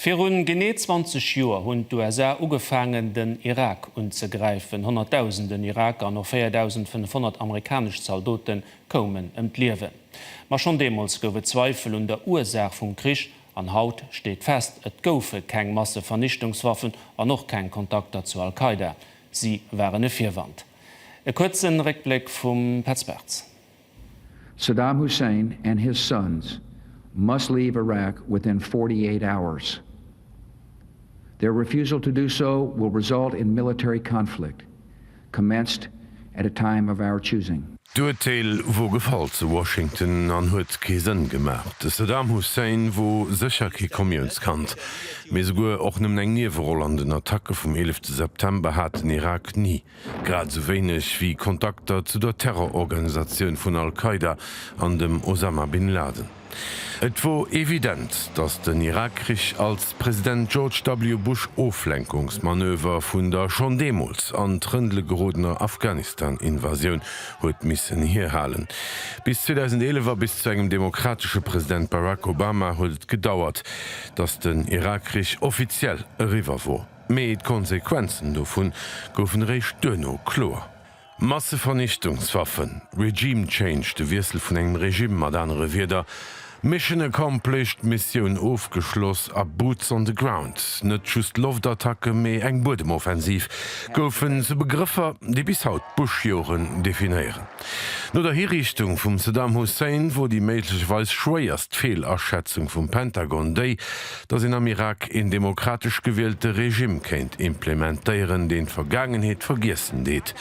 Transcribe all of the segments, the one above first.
Virun genee 20 Joer hunn d'USA ugefaangen, den Irak unzegräifen. Honnertdausenden Iraker an och 4.500 amerikanesch Zaldote koumen ëm d'Liewen. Ma schonn deemools gouf et Zweifel un der Ursaach vum Krich. An haut steet fest, Et goufe keng Massevernichtungswaffen an och keng Kontakter zu Al-Qaida. Si waren e Virwand. E kuerze Réckbléck vum Petz Bartz. Saddam Hussein and his sons must leave Iraq within 48 hours. Their refusal to do so will result in military conflict, commenced at a time of our choosing. D'Urteel wor gefall zu Washington an huet kee Sënn gemaach. De Saddam Hussein wor sécher kee Komiounskand, mee souguer och nëmmen eng Nieweroll an den Attacke vum 11 September hat den Irak ni. grad esou wéineg wéi Kontakter zu der Terrororganisatioun vun Al-Qaida an dem Osama bin Laden. Et wor evident, datt den Irakkrich als President George W. Bush Oflenkungsmanöver vun der schonn deemools an Trëndele gerodener Afghanistan-Invasioun huet missen hierhalen. Bis 2011 a bis zu engem demokratesche President Barack Obama huet et gedauert, datt den Irakkrich offiziell eriwwer wor. Mee d'Konsequenzen dovun goufen eréischt duerno kloer. Massevernichtungswaffen, Regime Change, de Wiessel vun engem Regime, mat anere Wierder, Mission accomplished, Missioun ofgeschloss, a Boots on the ground, net just Loftattacke mee eng Buedemoffensiv, goufen zu Begrëffer, déi bis haut d'Bush-Joren definéieren. No der Hiriichtung vum Saddam Hussein wor déi méiglecherweis schwéierst Feelaschätzung vum Pentagon déi, datt een am Irak een demokratesch gewielte Regime kéint implementéieren, deen d'Vergaangenheet vergiessen deet.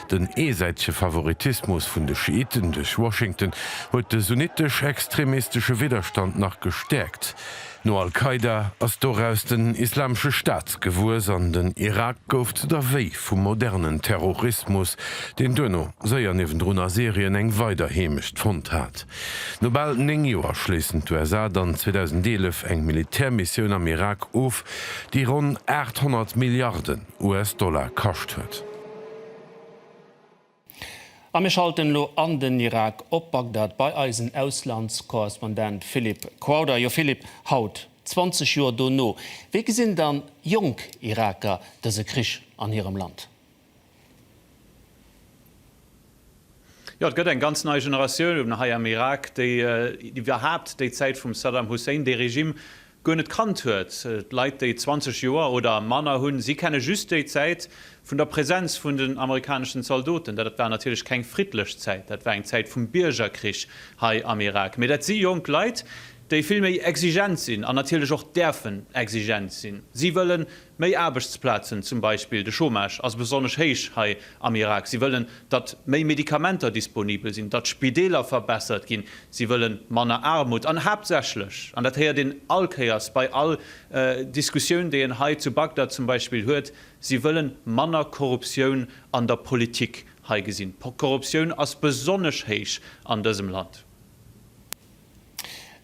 Den eesäitege Favoritismus vun de Schiiten duerch Washington huet de sunnitesch-extremistesche Widderstand nach gestäerkt. No al-Qaida ass doraus den Islamesche Staat gewuess an den Irak gouf zu der Wéi vum modernen Terrorismus, deen duerno séier niewendrun a Syrien eng weider Heemecht fonnt hat. No bal 9 Joer schléissen d'USA dann 2011 eng Militärmissioun am Irak of, déi ronn 800 Milliarden US-Dollar kascht huet. A mir schalten elo an den Irak, op Bagdad bei eisen Auslandskorrespondent Philippe Crowther. Jo Philippe, haut, 20 Joer dono, wéi gesinn dann jonk Iraker dëse Krich an hirem Land? Jo, et gëtt eng ganz nei Generatioun hei am Irak, déi iwwerhaapt déi Zäit vum Saddam Hussein, dee Regime, guer net kannt huet. D'Leit, déi 20 Joer oder manner hunn, si kenne just déi Zäit vun der Präsenz vun den amerikaneschen Zaldoten. Dat war natierlech keng friddlech Zäit, dat war eng Zäit vum Biergerkrich hei am Irak. Mee dat si jonk Leit, déi vill méi exigent sinn an natierlech och däerfen exigent sinn. Si wëllen Méi Aarbechtsplazen, zum Beispill de Chômage ass besonnesch héich hei am Irak. Si wëllen, datt méi Medikamenter disponibel sinn, datt d'Spideeler verbessert ginn. Si wëlle manner Aarmut an haaptsächlech, an dat héiert een all Kéiers bei all Diskussioun, déi een hei zu Bagdad zum Beispill huet, si wëlle manner Korruptioun an der Politik hei gesinn. D'Korruptioun ass besonnesch héich an dësem Land.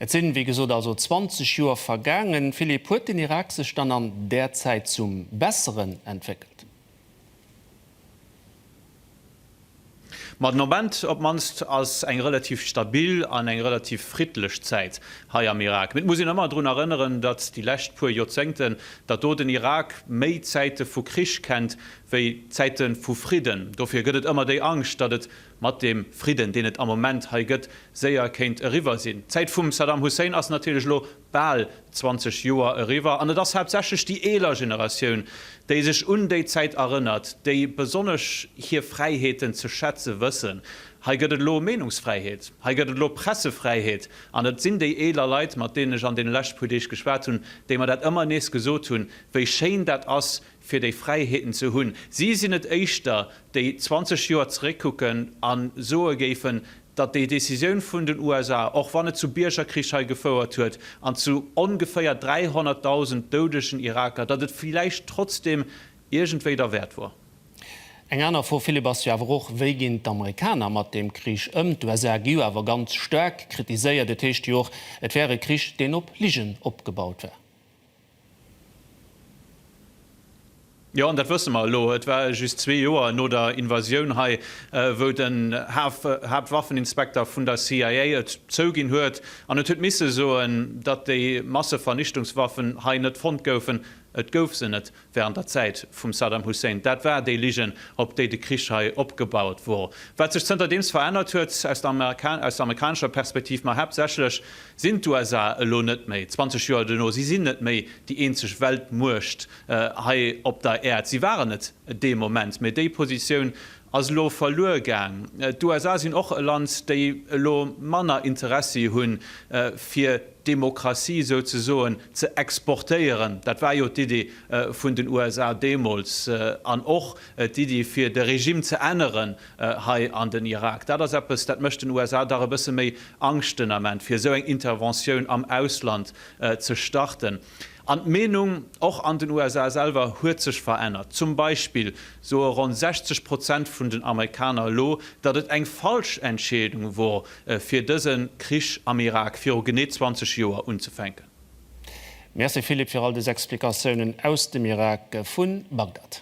Et sinn, wéi gesot, also 20 Joer vergaangen. Philippe, huet den Irak sech dann an där Zäit zum Besseren entwéckelt? Ma den Ament op d'mannst ass eng relativ stabil an eng relativ friddlech Zäit hei am Irak. Mee et muss een ëmmer drun erënneren, datt déi lescht puer Joerzéngten, datt do den Irak méi Zäite vu Krich kennt wéi Zäite vu Fridden. Dofir gëtt et ëmmer déi Angscht, datt et mat deem Fridden, deen et am Moment hei gëtt, séier kéint eriwwer sinn. D'Zäit vum Saddam Hussein ass natierlech elo bal 20 Joer eriwwer an et ass haaptsächlech déi eeler Generatioun, déi sech un déi Zäit erënnert, déi besonnesch hir Fräiheeten ze schätze wëssen. Hei gëtt et elo Meenungsfräiheet, hei gëtt et elo Pressefräiheet an et sinn déi eeler Leit, mat deenen ech an deene leschte puer Deeg geschwat hunn, déi mer dat ëmmer nees gesot hunn, wéi schéin dat ass, fir déi Fräiheeten ze hunn. Si sinn et éischter, déi 20 Joer zeréckkucken a soe géifen, datt déi Decisioun vun den USA, och wann et zu Biergerkrich hei gefouert huet an zu ongeféier 300.000 doudegen Iraker, datt et villäicht trotzdeem iergendwéi derwäert wor. Eng aner Fro, Philippe, ass jo awer och, Wéi ginn d'Amerikaner mat deem Krich ëm? D'USA gi jo awer ganz staark kritiséiert. Et heescht jo och, et wär e Krich, deen op Ligen opgebaut wär. Jo, an dat wësse mer elo. Et war just zwee Joer no der Invasioun hei, wou den Haaptwaffeninspekter vun der CIA et zouginn huet an et huet misse soen, datt déi Massevernichtungswaffen hei net fonnt goufen. Et gouf se net wärend der Zäit vum Saddam Hussein. Dat war déi Ligen, op déi de Krich hei opgebaut wor. Wat sech zënterdeems verännert huet, aus der amerikanescher Perspektiv, ma haaptsächlech Sinn d'USA elo net méi, 20 Joer duerno, si sinn net méi déi eenzeg Weltmuecht hei op der Äerd, si waren et dee Moment, mee déi Positioun ass elo verluer gaang. D'USA sinn och e Land, déi elo manner Interessi hunn, fir Demokratie souzesoen ze exportéieren, dat war jo d'Iddi vun den USA deemools, an och d'Iddi fir de Regime ze änneren, hei an den Irak. Dat ass eppes, dat mécht den USA dach e bësse méi Angscht den Ament, fir esou eng Interventioun am Ausland ze starten. An d'Meenung, och an den USA selwer, huet sech verännert. Zum Beispill soe ronn 60 Prozent vun den Amerikaner elo, datt et eng falsch Entscheedung wor, fir dëse Krich am Irak viru genee 20 Joer unzefänken. Merci Philippe fir all des Explikatiounen aus dem Irak vun Bagdad.